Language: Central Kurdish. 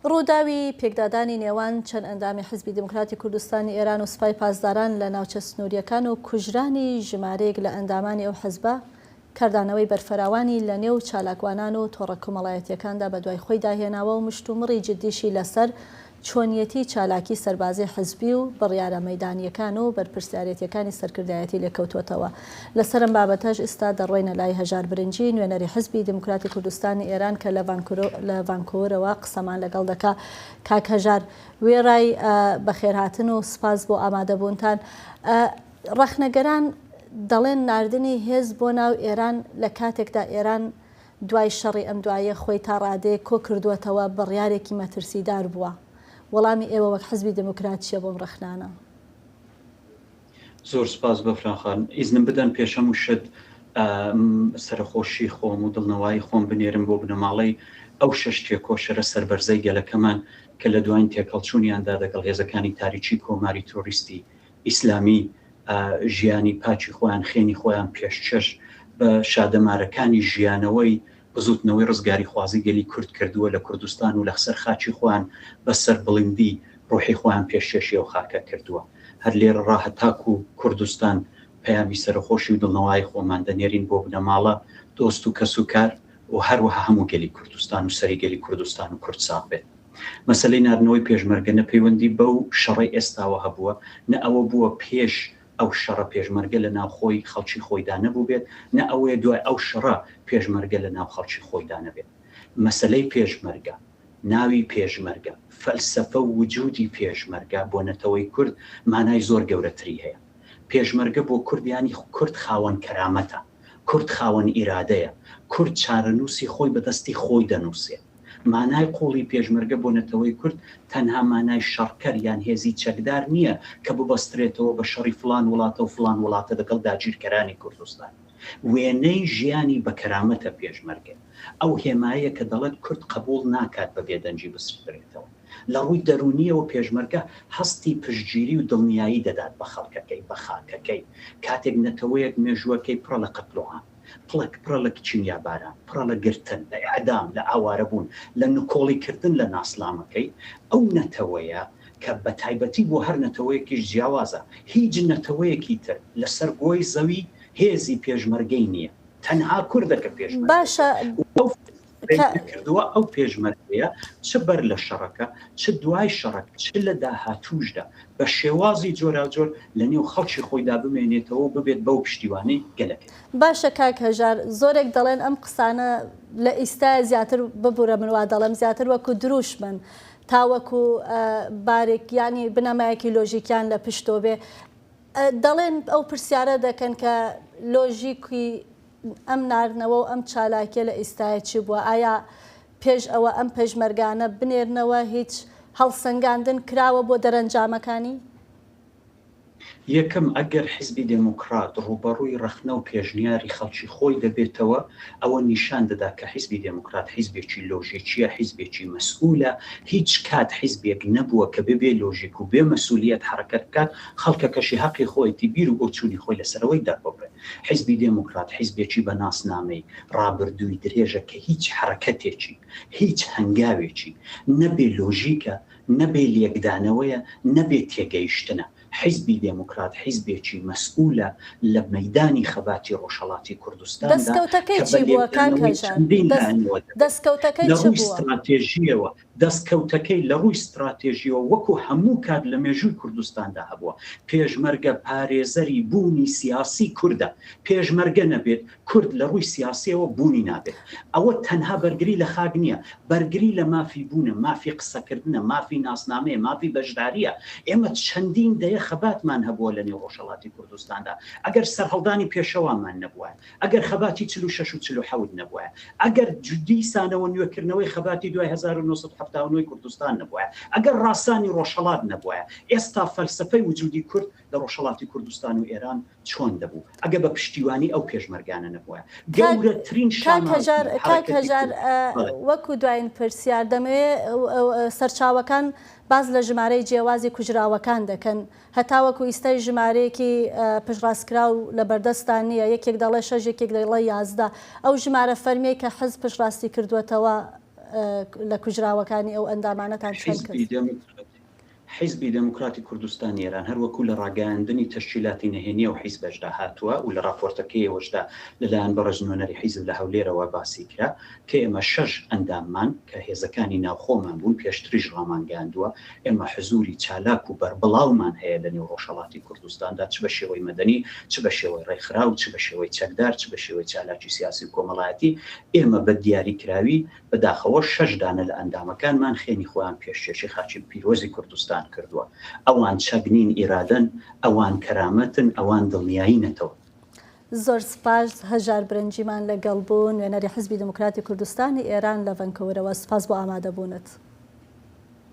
رووداوی پێکدادانی نێوان چەند ئەندامی حیزبی دیموکراتی کوردستانی ئێران و سپای پاسداران لە ناوچە سنوورییەکان و کوژرانی ژمارەیەک لە ئەندامانی ئەو حیزبە، کاردانەوەی بەرفراوانی لەنێو چالاکوانان و تۆڕە کۆمەڵایەتییەکاندا بەدوای خۆیدا هێناوە و مشتومڕی جددیشی لەسەر چۆنیەتی چالاکی سەربازی حیزبی و بڕیارە مەیدانییەکان و بەرپرسیارێتییەکانی سەرکردایەتی لێکەوتووەتەوە لەسەر ئەم بابەتەش ئیستا دەڕۆینە لای هەژار برنجی، نوێنەری حیزبی دێموکراتی کوردستانی ئێران کە لە لە ڤانکوورەوە قسەمان لەگەڵ دەکا. کاک هەژار، وێڕای بەخێرهاتن و سپاس بۆ ئامادەبوونتان، ڕەخنەگەران دەڵێن ناردنی هێز بۆ ناو ئێران لە کاتێکدا ئێران دوای شەڕی ئەم دواییە خۆی تا ڕادەیەک کۆ کردووەتەوە بڕیارێکی مەترسیدار بووە. وەڵامی ئێوە وەک حیزبی دێموکرات چییە بۆ ئەم ڕەخنانە؟ زۆر سوپاس بەفران خان. ئیزنم بدەن پێش هەموو شت سەرەخۆشی خۆم و دڵنەوایی خۆم بنێرم بۆ بنەماڵەی ئەو شەش تێکۆشەرە سەربەرزەی گەلەکەمان کە لە دواین تێکهەڵچوونیاندا دەگەڵ هێزەکانی تاریکی کۆماری ترۆریستی ئیسلامی ژیانی پاکی خۆیان، خێنی خۆیان پێشچش بە شادەمارەکانی ژیانەوەی بزوتنەوەی ڕزگاریخوازی گەلی کورد کردووە لە کوردستان و لەخسەر خاکی خۆیان بە سەربڵندی ڕوحی خۆیان پێشکێشی ئەو خاکە کردووە هەر لێرە ڕا هەتاکو کوردستان پەیامی سەرەخۆشی و دڵنەوایی خۆمان دەنێرین بۆ بنەماڵە دۆست و کەس و کار و هەروەها هەموو گەلی کوردستان و سەری گەلی کوردستان و کورد ساغ بێت. مەسەلەی ناردنەوەی پێشمەرگە نە پەیوەندی بەو شەڕەی ئێستاوە هەبووە نە ئەوە بووە پێش ئەو شەڕە پێشمەرگە لە ناو خۆی خەڵکی خۆیدا نەبووبێت، نە ئەوەیە دوای ئەو شەڕە پێشمەرگە لە ناو خەڵکی خۆیدا نەبێت. مەسەلەی پێشمەرگە، ناوی پێشمەرگە، فەلسەفە و وجودی پێشمەرگە بۆ نەتەوەی کورد مانای زۆر گەورەتری هەیە. پێشمەرگە بۆ کورد یانی کورد خاوەن کەرامەتە. کورد خاوەن ئیرادەیە، کورد چارەنووسی خۆی بە دەستی خۆی دەنووسێ. مانای قووڵی پێشمەرگە بۆ نەتەوەی کورد تەنها مانای شەڕکەر یان هێزی چەکدار نییە کە ببەسترێتەوە بە شەڕی فڵان وڵاتە و فڵان وڵاتە دەگەڵ داگیرکەرانی کوردستان. وێنەی ژیانی بە کەرامەتە پێشمەرگە ئەو هێمایەیە کە دەڵێت کورد قەبووڵ ناکات بە بێدەنگی بسڕدرێتەوە. لە ڕووی دەروونییەوە پێشمەرگە هەستی پشتگیری و دڵنیایی دەدات بە خەڵکەکەی، بە خاکەکەی. کاتێک نەتەوەیەک مێژووەکەی پڕە لە قەتڵوعام، پڵەک پڕە لە کیمیاباران، پڕە لە گرتن، لە ئێعدام، لە ئاوارەبوون، لە نکۆڵیکردن لە ناسنامەکەی، ئەو نەتەوەیە کە بە تایبەتی بۆ هەر نەتەوەیەکیش جیاوازە، هیچ نەتەوەیەکی تر لەسەر گۆی زەوی هێزی پێشمەرگەی نییە. تەنها کوردە کە پێشمەرگەیە. کردووە، ئەو پێشمەرگەیە چ بەر لە شەڕەکە، چ دوای شەڕەکە، چ لە داهاتووشدا بە شێوازی جۆراوجۆر لە نێو خەڵکی خۆیدا بمێنێتەوە و ببێت بەو پشتیوانەی گەلەکەی. باشە کاک هەژار، زۆرێک دەڵێن ئەم قسانە لە ئیستایە زیاتر، ببورە من وا دەڵێم، زیاتر وەکو درووشمن تا وەکو بارێک یانی بنەمایەکی لۆژیکیان لە پشتۆ بێ، دەڵێن ئەو پرسیارە دەکەن کە لۆژیکی ئەم ناردنەوە و ئەم چالاکیە لە ئیستایە چی بووە؟ ئایا پێش ئەوە ئەم پێشمەرگانە بنێرنەوە هیچ هەڵسەنگاندن کراوە بۆ دەرەنجامەکانی؟ یەکەم، ئەگەر حیزبی دێموکڕات ڕووبەڕووی ڕەخنە و پێشنیاری خەڵکی خۆی دەبێتەوە، ئەوە نیشان دەدا کە حیزبی دێموکڕات حیزبێکی لۆژیکیە، حیزبێکی مەسئولە، هیچ کات حیزبێک نەبووە کە ببێ لۆژیک و بێ مەسئولیەت حەڕەکەت بکات، خەڵکەکەشی هەقی خۆیەتی بیر و بۆچوونی خۆی لەسەرەوەی دەرببڕێ. حیزبی دێموکرات حیزبێکی بە ناسنامەی، ڕابردووی درێژە کە هیچ حەرەکەتێکی، هیچ هەنگاوێکی، نە بێ لۆژیکە، نە بێ لێکدانەوەیە، نە بێ تێگەیشتنە. حیزبی دێموکرات حیزبێکی مەسئوولە لە مەیدانی خەباتی ڕۆژهەڵاتی کوردستاندا دەستکەوتەکەی کە بە چی بووە کاک لێکدانەوەی هەژار؟ چەندین لایەنەوە دەبێت. دەستکەوتەکەی لە چ ڕووی بووە؟ ستراتێژییەوە، دەستکەوتەکەی لە ڕووی ستراتێژییەوە وەکو هەموو کات لە مێژووی کوردستاندا هەبووە. پێشمەرگە پارێزەری بوونی سیاسیی کوردە. پێشمەرگە نەبێت، کورد لە ڕووی سیاسییەوە بوونی نابێت. ئەوە تەنها بەرگری لە خاک نییە، بەرگری لە مافی بوونە، مافی قسەکردنە، مافی ناسنامەیە، مافی بەشدارییە. ئێمە چەندین دەیە خەباتمان هەبووە لەنێو ڕۆژهەڵاتی کوردستاندا. ئەگەر سەرهەڵدانی پێشەوامان نەبووایە، ئەگەر خەباتی چل و شەش و چل و حەوت نەبوایە، ئەگەر دیسانەوە نوێکردنەوەی خەباتی دوای هەزار و نۆ سەد و حەفتا و نۆ ی کوردستان نەبوایە، ئەگەر ڕاسانی ڕۆژهەڵات نەبوایە، ئێستا فەلسەفەی وجودی کورد لە ڕۆژهەڵاتی کوردستان و ئێران چۆن دەبوو؟ ئەگەر بە پشتیوانی ئەو پێشمەرگانە نەبوایە. گەورەترین شانازی حەرەکەتی کورد. وەکو دوایین پرسیار، دەمەوێت سەرچاوەکان باس لە ژمارەی جیاوازی کوژراوەکان دەکەن، هەتاوەکو ئیستای ژمارەیەکی پشتڕاستکراو لەبەردەستتان نییە، یەکێک دەڵێ شەش یەکێک دەڵێ یازدە، ئەو ژمارە فەرمیەی کە حزب پشتڕاستی کردووەتەوە لە کوژراوەکانی ئەو ئەندامانەتان چەند کرد؟ حیزبی دێموکراتی کوردستانی ئێران هەروەکو لە ڕاگەیاندنی تەشکیلاتی نەهێنی ئەو حیزبەشدا هاتووە و لە ڕاپۆرتەکەیەوەشدا لەلایەن بەڕێز نوێنەری حیزب لە هەولێرەوە باسی کرا کە ئێمە شەش ئەنداممان کە هێزەکانی ناوخۆمان بوون پێشتریش ڕامانگەیاندووە ئێمە حزووری چالاک و بەربڵاومان هەیە لە نێو ڕۆژهەڵاتی کوردستاندا، چ بە شێوەی مەدەنی، چ بە شێوەی ڕێکخراو، چ بە شێوەی چەکدار، چ بە شێوەی چالاکی سیاسی و کۆمەڵایەتی. ئێمە بە دیاریکراوی، بە داخەوە شەش دانە لە ئەندامەکانمان خێنی خۆیان پێشکێشی خاکی پیرۆزی کوردستان کردووە. ئەوان چەک نین، ئیرادەن، ئەوان کەرامەتن، ئەوان دڵنیایی نەتەوەن. زۆر سپاس، هەژار برنجیمان لەگەڵ بوو، نوێنەری حیزبی دێموکراتی کوردستانی ئێران لە ڤەنکوورەوە. سپاس بۆ ئامادەبوونت.